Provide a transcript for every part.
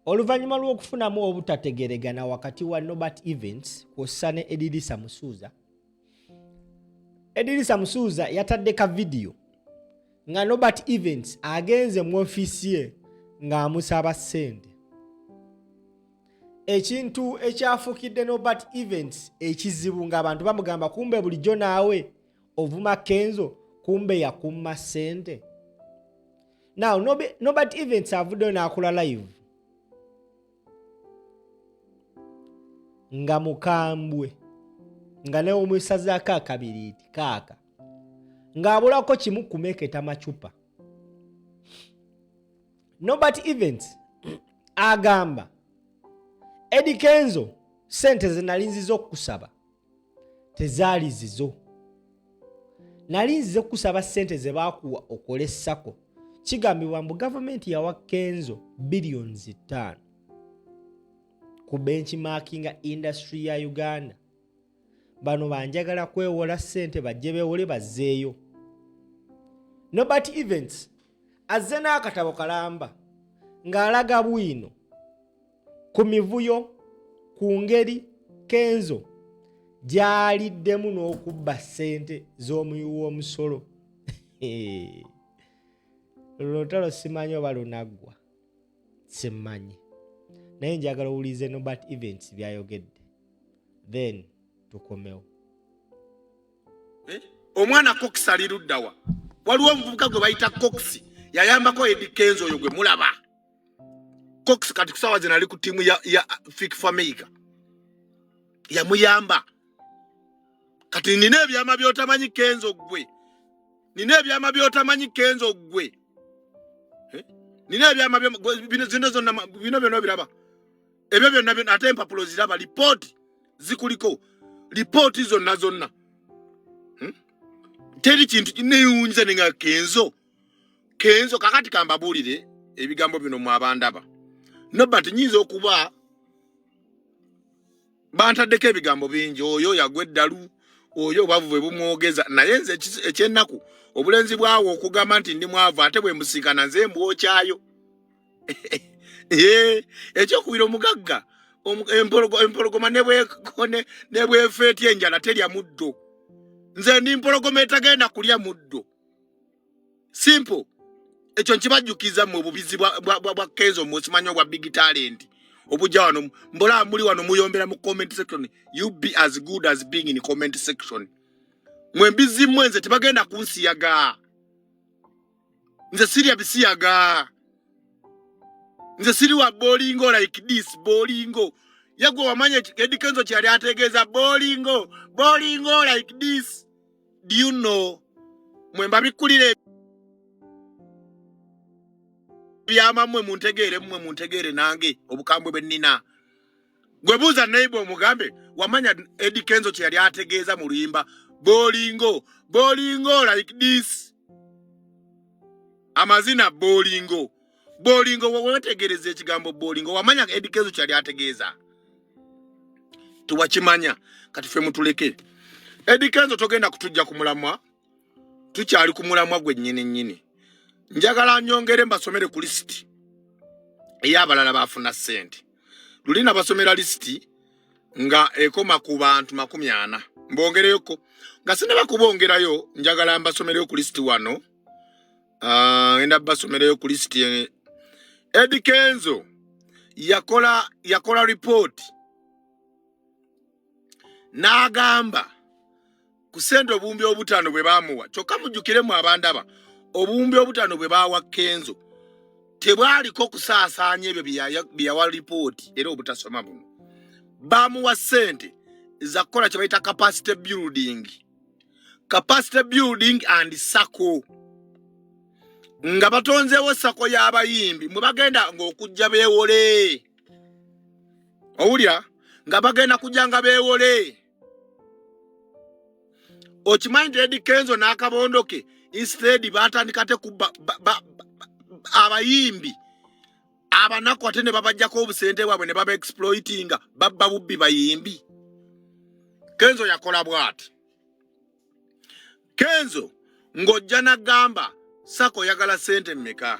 oluvannyuma lw'okufunamu obutategeregana wakati wa nobert events kwossa ne edirisa musuuza edirisa musuuza yatadde ka vidiyo nga nobert events agenze mu ofiisi ye ng'amusaba ssente ekintu ekyafukidde nobert events ekizibu ng'abantu bamugamba kumbe bulijjo naawe ovuma kenzo kumbe yakumma ssente now nobert events avuddeyo n'akola live nga mukambwe nga nawe omwesazaako akabiriiti kaaka ng'abulako kimu kumeketa macupa nobert events agamba edi kenzo sente zenalinziza okukusaba tezaali zizo nali nzize kukusaba ssente ze baakuwa okole sako kigambibwa mbu gavumenti yawa kenzo billions ttaano ku benchmarkinga industry ya uganda bano banjagala kwewola ssente bajje bewole bazzeeyo nobert events azze n'akatabo kalamba ng'alaga bwino ku mivuyo ku ngeri kenzo gyaliddemu n'okubba ssente z'omuyi w'omusolo luno lutalo simanyi oba lunaggwa simmanyi naye njagala owulize nobat events byayogedde then tukomewo eh? omwana cox ali luddawa waliwo omuvubuka gwe bayita cox yayambako edi kenzo oyo gwe mulaba cox kati kusawa zina ali ku timu ya, ya fik fameica yamuyamba kati nina ebyama byotamanyi kenzo gwe nina ebyama byotamanyi kenzo gwe eh? nina ebyama bino zino zonna bino byona biraba ebyo byonna byona ate empapulo ziraba lipooti zikuliko lipooti zonna zonna hmm? teri kintu neyunza ninga kenzo kenzo kakati kambabuulire ebigambo bino mu abandaba nobat nyinza okuba bantaddeko ebigambo bingi oyo yagwa eddalu oyo obwavu bwe bumwogeza naye nze ekyennaku obulenzi bwawo okugamba nti ndi mwavu ate bwe mbusinkana nze mbwokyayo ekyokubira omugagga empologoma nebwefeetya enjala terya muddo nze ndi mpologoma etagenda kulya muddo simple ekyo nkibajjukiza mwe obubizi bwa kenzo mwesimanya obwa big talent obujja wano mbola muli wano muyombera mu comment section you be as good as being in comment section mwe mbizi mwe nze tebagenda kunsiyaga nze sirya bisiyaga nze siri wa bolingo like this bolingo yagwe wamanya edikenzo kyali ategeeza bolingo bolingo like this do you know mwe mbabikulira ebyama mwe muntegeere mwe muntegeere nange obukambwe bwe nina gwe buuza neiba omugambe wamanya edi kenzo kye yali ategeeza mu luyimba bolingo bolingo like this amazina bolingo bolingo wewetegereza ekigambo bolingo wamanya edikezo kyali ategeeza tewakimanya kati fe mutuleke edikezo togenda kutujja ku mulamwa tukyali ku mulamwa gwe nyini nyini njagala nyongere mbasomere ku lisiti ey'abalala baafuna ssente luli nabasomera lisiti nga ekoma ku bantu makumi ana mbongereyoko nga sinaba kubongerayo njagala mbasomereyo ku lisiti wano ah, enda basomerayo ku list Eddie Kenzo yakola yakola report n'agamba ku sente obuwumbi obutaano bwe baamuwa kyokka mujjukiremu abandaba obuwumbi obutaano bwe baawa kenzo tebwaliko kusaasaanya ebyo bye yawa lipooti era obutasoma buno baamuwa sente zakukola kye bayita capacity building capacity building and sako nga batonzeewo sako y'abayimbi mwe bagenda ng'okujja beewole owulira nga bagenda kujja nga beewole okimanyi nti edi kenzo n'akabondo ke instead baatandika te kubba abayimbi abanaku ate ne babajjako obusente bwabwe ne baba exploitinga babba bubbi bayimbi kenzo yakola bwati kenzo ng'ojja nagamba sako oyagala sente mmeka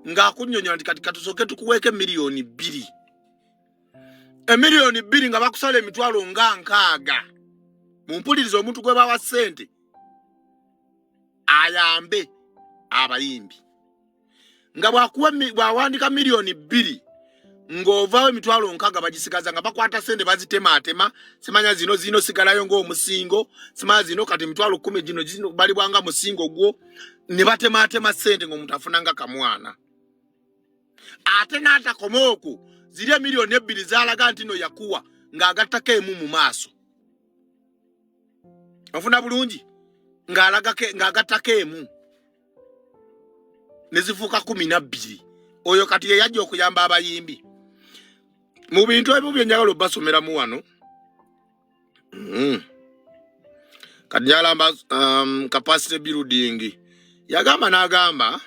ng'akunyonyola nti kati katusooke tukuweeko emiliyoni bbiri emiliyoni bbiri nga bakusala emitwalo nga nkaaga mumpuliriza omuntu gwe bawa sente ayambe abayimbi nga bw'awandiika miliyoni bbiri ng'ovaawo emitwalo nkaaga bagisigaza nga bakwata sente bazitemaatema simanya zino zino sigalayo ng'omusingo simanya zino kati emitwalo kkumi gino balibwanga musingo gwo ne batemaatema sente ng'omuntu afunanga kamwana ate n'atakoma oku ziri emiliyoni ebbiri zalaga nti no yakuwa ng'agattako emu mu maaso ofuna bulungi ng'agattako emu ne zifuuka kumi na bbiri oyo kati ye yajja okuyamba abayimbi mu bintu ebimu bye njagala obbasomeramu wano mm. kati njalamba um, capacity building yagamba n'agamba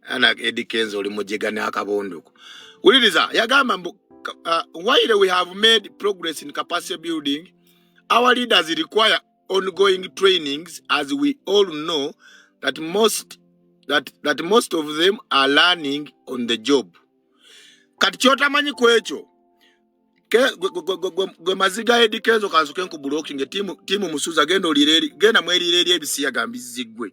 ana edi kenzo oli mujega n'akabonduko wuliriza yagamba mbu uh, while we have made progress in capacity building our leaders require ongoing trainings as we all know that most, that, that most of them are learning on the job kati kyotamanyi ku ekyo gwe maziga edikezo kanzuke nkubulokinge tiimu musuza genda olire genda mwelire eri ebisiyaga mbizzigwe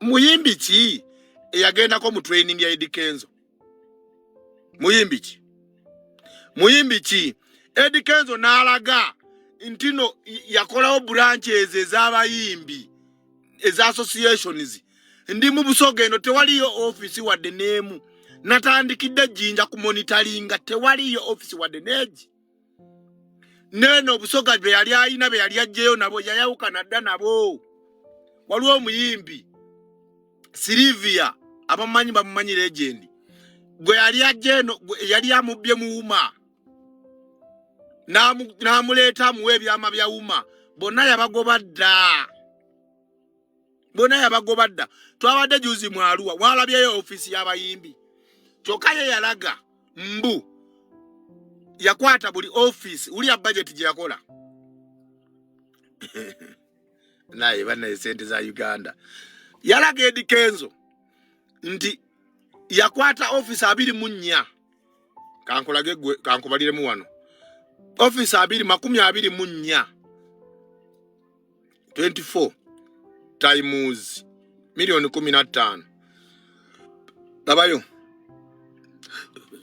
muyimbi ki eyagendako mu training ya Eddy Kenzo? Muyimbi ki? Muyimbi ki? Eddy Kenzo n'alaga ntino yakolawo branch ezo ez'abayimbi eza associations ndi mu busoga eno tewaliyo office wadde n'emu natandikidde jjinja ku monitoringa tewaliyo office wadde n'egi neeno obusoga bwe yali alina be yali ajjeyo nabo yayawukana dda nabo waliwo omuyimbi silivia abamanyi bamumanyi legendi gwe yali ajja eno yali amubbye mu wuma n'amuleeta amuwa ebyama bya wuma bonna yabagoba dda bona yabagoba dda twabadde juzi mwaluwa walabyeyo ofisi yabayimbi kyokka ye yalaga mbu yakwata buli ofisi ulia bajeti gyeyakola naye banaye sente za uganda yalaga edi kenzo nti yakwata ofisi abiri mu nnya kankulage gwe kankubaliremu wano ofisi abiri makumi abiri mu nnya 24 times milioni kumi na ttaano labayo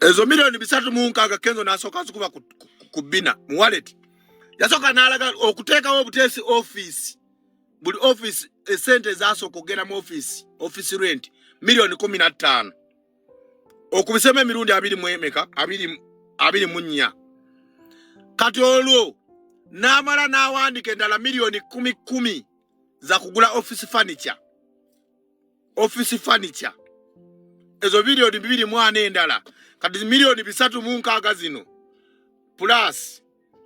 ezo milioni bisatu mu nkaaga kenzo nasooka zikuba ku bina mu waleti yasooka nalaga okuteekawo obuteesi ofiisi buli ofiisi esente ezasooka okugenda mu ofiisi ofiisi renti milioni kumi na ttaano okubisemu emirundi abiri mu emeka abiri mu nnya kati olwo n'amala n'awandika endala miliyoni kumi kumi za kugula office furniture office furniture ezo miliyoni bibiri mu ana endala kati miliyoni bisatu mu nkaaga zino plus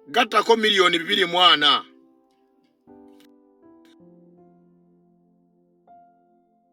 gattako miliyoni bibiri mu ana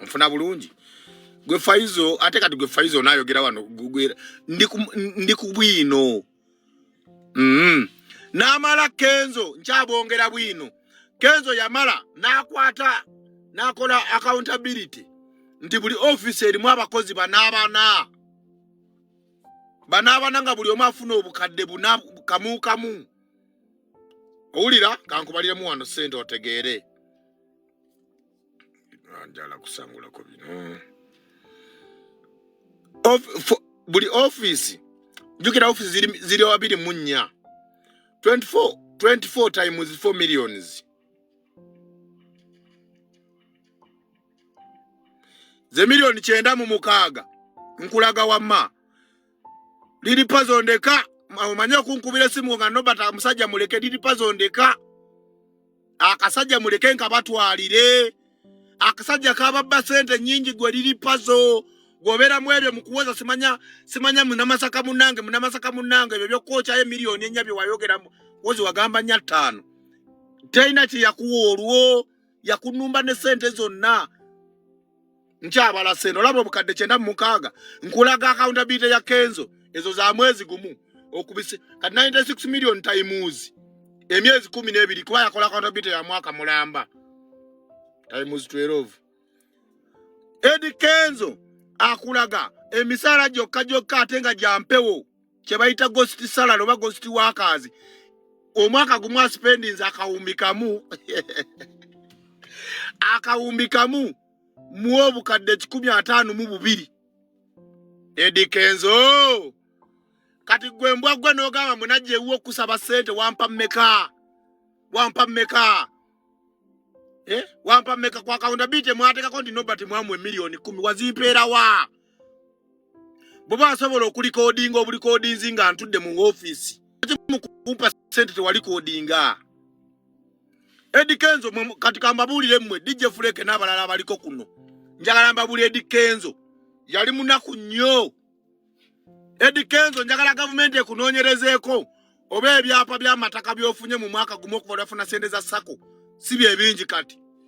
nfuna bulungi gwe faizo ate kati gwe faizo onayogera wano gugwera ndi ku bwino mm. namala kenzo nkyabongera bwino kenzo yamala nakwata nakola accountability nti buli office erimu abakozi banabana banabana nga buli omu afuna obukadde buna kamu kamu owulira kankubaliremu wano sente otegeere njala kusangulako bino buli office jukira office ziri, ziri wabiri mu nnya 24, 24 times 4 millions ze miliyoni kyenda mu mukaaga nkulaga wamma lili pazo ndeka omanye okunkubira esimu nga nobert amusajja muleke lili pazo ndeka akasajja muleke nka batwalire akasajja kababba sente nyingi gwe lili pazo gwobera mwebyo mukuwoza simanya simanya munamasaka munange munamasaka munange ebyo byokukokyayo miliyoni enya byewayogera wozi wagamba nya ttaano teyina kyeyakuwa olwo yakunumba ne sente zonna nkyabalasa eno olaba obukadde kyenda mumukaaga nkulaga accountability ya kenzo ezo za mwezi gumu okubise kati 96 million times emyezi kumi n'ebiri kuba yakola accountability ya mwaka mulamba times 12 edi kenzo akulaga emisaala gyokka gyokka ate nga gyampewo kyebayita ghost salary oba ghost workers omwaka gumu aspendinze akawumbi kamu akawumbi kamu mu obukadde kikumi ataano mu bubiri edikenzo kati gwe mbwa gwe n'ogamba munajja ewuwo okusaba ssente wampa mmeka wampa mmeka eh? wampa mmeka ku akawunda bi temwateekako nti nobati mwamu emiliyoni kumi wazimpeera wa bwoba asobola okulikodinga obulikodinzi nga ntudde mu ofiisi mukumpa sente tewali kodinga edi kenzo kati kambabuulire mmwe dj fuleke n'abalala abaliko kuno njagala mbabuulire edi kenzo yali munaku nnyo edi kenzo njagala gavumenti ekunoonyerezeeko oba ebyapa by'amataka by'ofunye mu mwaka gumu okuva lwafuna sente za sako si bye bingi kati